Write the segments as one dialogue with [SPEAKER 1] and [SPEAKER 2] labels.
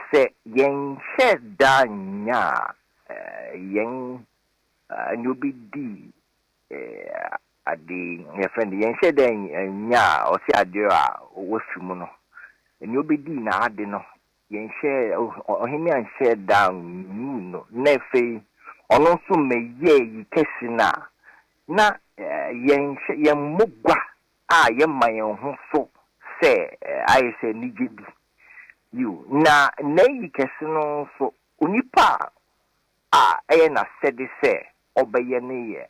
[SPEAKER 1] Sɛ yɛnhyɛ da nya a, yɛn ne obi di ade, yɛfrɛ no, yɛnhyɛ da nya a, ɔse ade a wafi mu no, ne obi di n'ade no, yɛnhyɛ, ɔhene anhyɛ da nyuu no, na afei ɔno nso mɛyɛ yi kɛse no a, na yɛnhyɛ, yɛmmɔ gua a yɛma yɛn ho so sɛ ayɛ sɛ anigye bi. Yiw, na n'ayi kɛse no nso, onipa a ɛyɛ n'asɛde sɛ ɔbɛyɛ no yɛ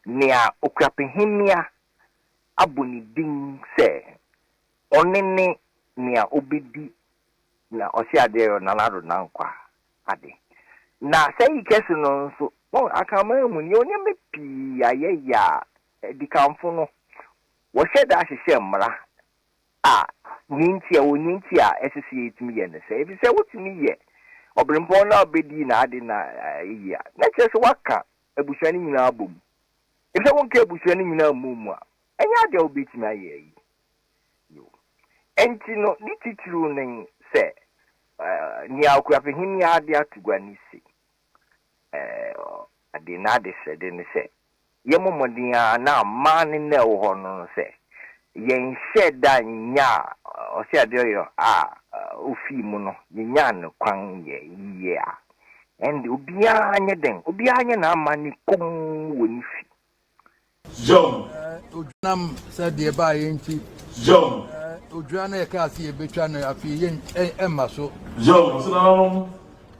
[SPEAKER 1] nea okura pehemmea abɔ ne din sɛ ɔne ne nea obedi na ɔte ade yɔ nanado na nkwa ade. Na saa ayi kɛse no nso, wɔn akanman mu nea ɔnneɛma pii a yɛyɛ a Adikanfo no, wɔhyɛ da hyehyɛ mmara a nea enti a ɛwɔ nea enti a ɛsɛ sɛ yetumi yɛ ne sɛ, efisɛ wotumi yɛ ɔbirɛmpɔn no a obedi n'ade no yiye a, na ɛkyerɛ sɛ woaka abusua no nyinaa abom. Efisɛ wonka abusua no nyinaa mmɔɔ mu a, ɛnyɛ ade a wobetumi ayɛ ayi. Yiw, enti no ne titiriw ne sɛ nea Okuafo Hemmea a ade ato gua no se, Ade n'adesrɛde ne sɛ, Yɛmmɔ mmɔden ara na amma ne nna a ɛwɔ hɔ no no sɛ, yɛnhyɛɛ da nnyaa ɔsɛ ade ɔyɔ a ofii mu no, yenyaa no kwan yɛ yiye a, ɛnde obiara nyɛ dɛn? Obiara nyɛ n'amanne komm wɔ ne fi.
[SPEAKER 2] John. Nam
[SPEAKER 3] sɛ deɛ ɛbaeɛ nti. John.
[SPEAKER 2] Odwira no a
[SPEAKER 3] yɛkaa sɛ yɛbɛtwa no afei yɛn ɛmma so. John. Ɔsɛ nananom.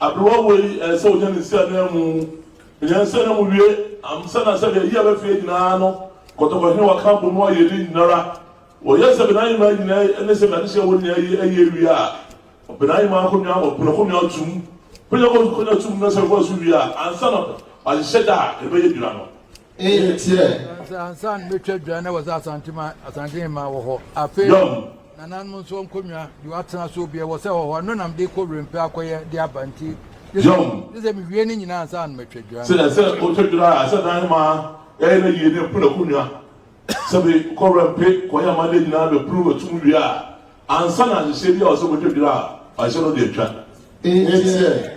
[SPEAKER 2] Aberewa wei ɛɛ sɛ ɔnya ne nsi ananmu. Ɔnya ne nsi ananmu wie amsa na sɛdeɛ yia bɛ fie nyinaa no kɔtɔkɔ hene wɔ ka bɔ mu ayɛ ne nyinara. Wɔyɛ sɛ bɛnaa nyinaa nyinaa ne sɛ bɛnaa dehyɛ wɔ nyinaa yi ɛyɛ wie a bɛnaa nyinaa akɔnwa wɔ bɛnaa kɔnwa tum. Kɔnwa kɔnwa tum na sɛ kɔnwa so wie a ansa na bɛhyehyɛ da a ɛbɛyɛ nyina no. nteɛ. Sɛ ansa
[SPEAKER 3] na mɛtwa dwa na wɔ sɛ asante ma asante hema wɔ hɔ afei nananom nso nkonnwa de watena so obiɛ wɔ sɛ wɔ hɔ ɛno nam de kɔ werɛmfɛ akɔyɛ de aba nti ne sɛ
[SPEAKER 2] mewie ne nyinaa
[SPEAKER 3] ansa na mɛtwa dwa sɛ sɛ wotwa dwa
[SPEAKER 2] a sɛ dan hema ɛyɛ no yie ne mpo n'akonnwa sɛ bi kɔ werɛmpe kɔyɛ ama ne nyinaa bɛpuru bɛtum wie a ansa na nhyehyɛ bi a wɔ sɛ wobɛtwa dwa a ɔhyɛ no de atwa nteɛ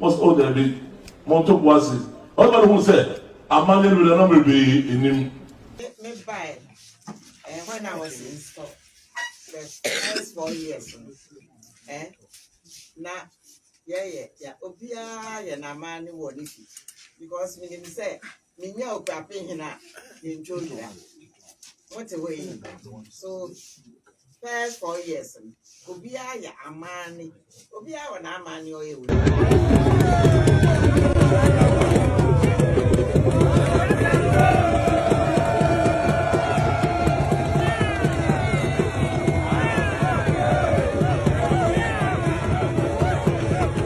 [SPEAKER 2] Wɔse, Oh, daabi, monto bo ase. Ɔbarima no huu sɛ amanne reba na merebɛyɛ anim. Me
[SPEAKER 4] bae eh when I was in school the first four years no eh na yɛyɛ ya obiara yɛ n'amanne wɔ ne fi because menim sɛ Menya okuape hena mentwa odwira mote hɔ yi so first four years no obiara yɛ amaane obiara wɔ n'amaane ɔyɛ wɔ